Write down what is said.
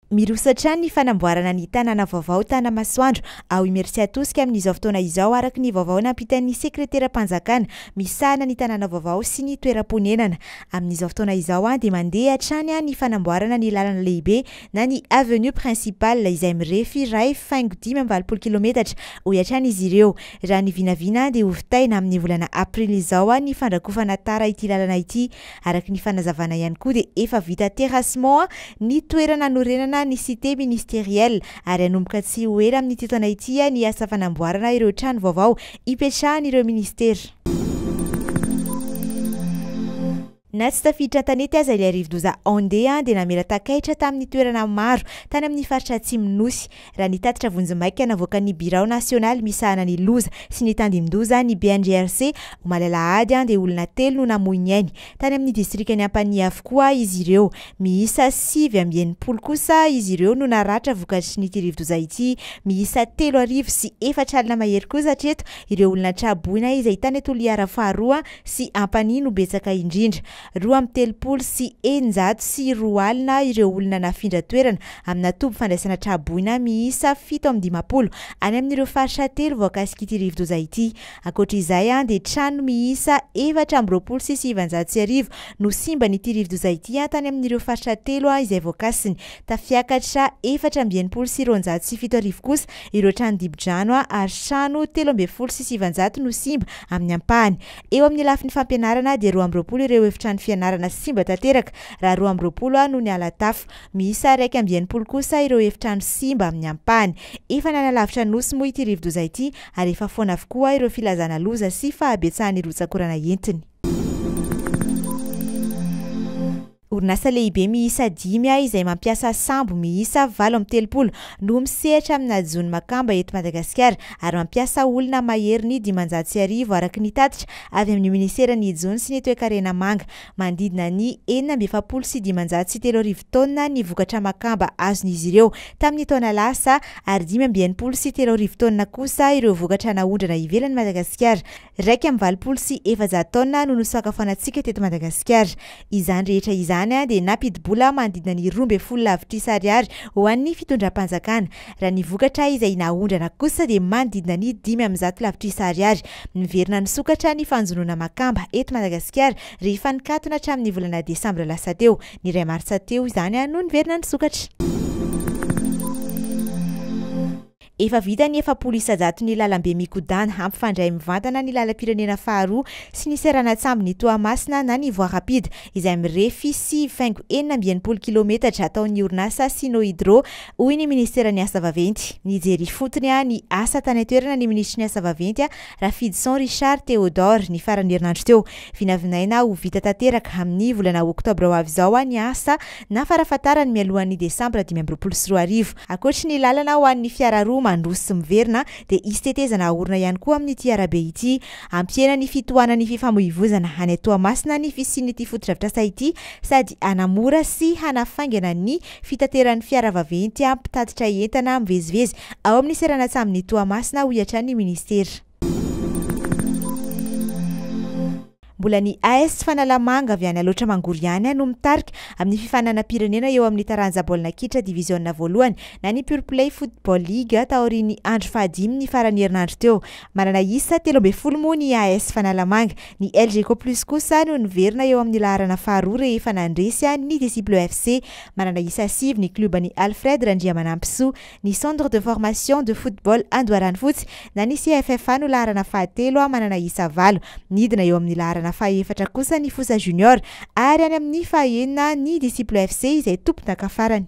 Miroso hatrany ny fanamboarana ny tanàna vaovao Tanamasoandro ao Imeritsiatosika amin'izao fotoana izao araka ny vaovao nampitan'ny sekreteram-panjakana misahana ny tanàna vaovao sy ny toeram-ponenana. Amin'izao fotoana izao dia mandeha hatrany ny fanamboarana ny lalana lehibe na ny avenue principale izay mirefy iray faingo dimy amby valopolo kilometatra hoy hatrany izy ireo. Raha ny vinavina dia hovitaina amin'ny volana aprily izao ny fandrakofana tara ity lalana ity. Araka ny fanazavana ihany koa dia efa vita terrassement ny toerana hanorenana ny cité ministérielle ary hanomboka tsy ho ela amin'ity taona ity ny asa fanamboarana ireo trano vaovao hipetrahan'ireo ministera. Na tsy tafiditra an-tanety aza ilay rivodoza Andé dia namela takaitra tamin'ny toerana maro tany amin'ny faritra atsimon'ny Nosy. Raha ny tatitra vonjimaika navoakan'ny Birao nasionaly misahana ny loza sy ny tandindoza, ny BNGRC, omaly alahady, dia olona telo no namoy ny ainy. Tany amin'ny distrikan'i Ampanihy avokoa izy ireo. Miisa sivy amby enimpolo kosa izy ireo no naratra vokatry n'ity rivodoza ity. Miisa telo arivo sy efatra alina mahery kosa hatreto ireo olona tra-boina izay tany Toliara faharoa sy Ampanihy no betsaka indrindra. Roa amby telopolo sy eninjato sy roa alina ireo olona nafindra toerana amina toby fandraisana tra-boina miisa fito amby dimampolo any amin'ireo faritra telo voakasik'ity rivodoza ity. Ankoatra izay dia trano miisa efatra amby roapolo sy sivinjato sy arivo no simban'ity rivodoza ity tany amin'ireo faritra telo izay voakasiny. Tafiakatra efatra amby enimpolo sy roanjato sy fito arivo kosa ireo trano dibo-drano ary trano telo ambin'ny folo sy sivinjato no simba amin'ny ampahany. Eo amin'ny lafiny fampianarana dia roa amby roapolo ireo efitrano fianarana simba tanteraka raha roa amby roapolo no niala tafo. Miisa iraika amby enimpolo kosa ireo efitrano simba amin'ny ampahany. Efa nanalavitra nosy moa ity rivodoza ity ary efa foana avokoa ireo filazana loza sy fahabetsahan'ny rotsakorana entiny. Orinasa lehibe miisa dimy ahy izay mampiasa sambo miisa valo amby telopolo no misehatra amina jono makamba eto Madagasikara ary mampiasa olona mahery ny dimanjato sy arivo araka ny tatitra avy amin'ny Minisera ny jono sy ny toekarena manga manodidina ny enina amby efapolo sy dimanjato sy telo arivo taonina ny vokatra makamba azon'izy ireo tamin'ny taona lasa ary dimy amby enimpolo sy telo arivo taonina kosa ireo vokatra naondrana ivelan'i Madagasikara Iraika amby valopolo sy efajato taona no nosakafoanantsika teto Madagasikara. Izany rehetra izany dia nampidi-bola manodidina ny roa ambin'ny folo lavitrisa ariary ho an'ny fitondram-panjakana. Raha ny vokatra izay naondrana kosa dia manodidina ny dimy amby zato lavitrisa ariary. Miverina nisokatra ny fanjonoana makamba eto Madagasikara rehefa nikatona hatramin'ny volana desambra lasa teo. Ny iray martsa teo izany no niverina nisokatra. Efa vita ny efapolo isa-jato ny lalambe mikodàna hampifandray mivantana ny lalam-pirenena faharoa sy ny seranan-tsambon'i Toamasina na ny Voie Rapide izay mirefy sivy faingo enina amby enimpolo kilometatra ataon'ny orinasa Sino Hydro hoy ny Ministeran'ny Asa Vaventy. Nijery ifotony ny asa tany an-toerana ny Minisitry ny Asa Vaventy, Rafidison Richard Théodore, ny faran'ny herinandro teo. Vinavinaina ho vita tanteraka amin'ny volana oktobra ho avy izao ny asa na farafahatarany mialohan'ny desambra dimy amby roapolo sy roa arivo. Ankoatry ny lalana ho an'ny fiara roa mandroso sy miverina dia hisy tetezana haorina ihany koa amin'ity arabe ity. Hampihena ny fitohanan'ny fifamoivozana any Toamasina ny fisian'ity fotodrafitrasa ity sady hanamora sy hanafaingana ny fitateran'ny fiara vaventy mpitatitra entana mivezivezy ao amin'ny seranan-tsambon'i Toamasina, hoy hatrany ny minisitera. Mbola ny AS Fanalamanga avy any Alaotra Mangoro ihany no mitarika amin'ny fifaninanam-pirenena eo amin'ny taranja baolina kitra diviziona voalohany na ny Pure Play Football League taorian'ny andro fahadimy ny faran'ny herinandro teo. Manana isa telo ambin'ny folo moa ny AS Fanalamanga. Ny Elgeco Plus kosa no niverina eo amin'ny laharana faharoa rehefa nandresy an'ny Disciples FC. Manana isa sivy ny klioban'i Alfred Randriamanampisoa. Ny Centre de Formation de Football Andoharanofotsy na ny CFFA no laharana fahatelo a manana isa valo. Nidina eo amin'ny laharana fahaefatra kosa ny Fosa Junior ary any amin'ny fahaenina ny Disciples FC izay tompondaka farany.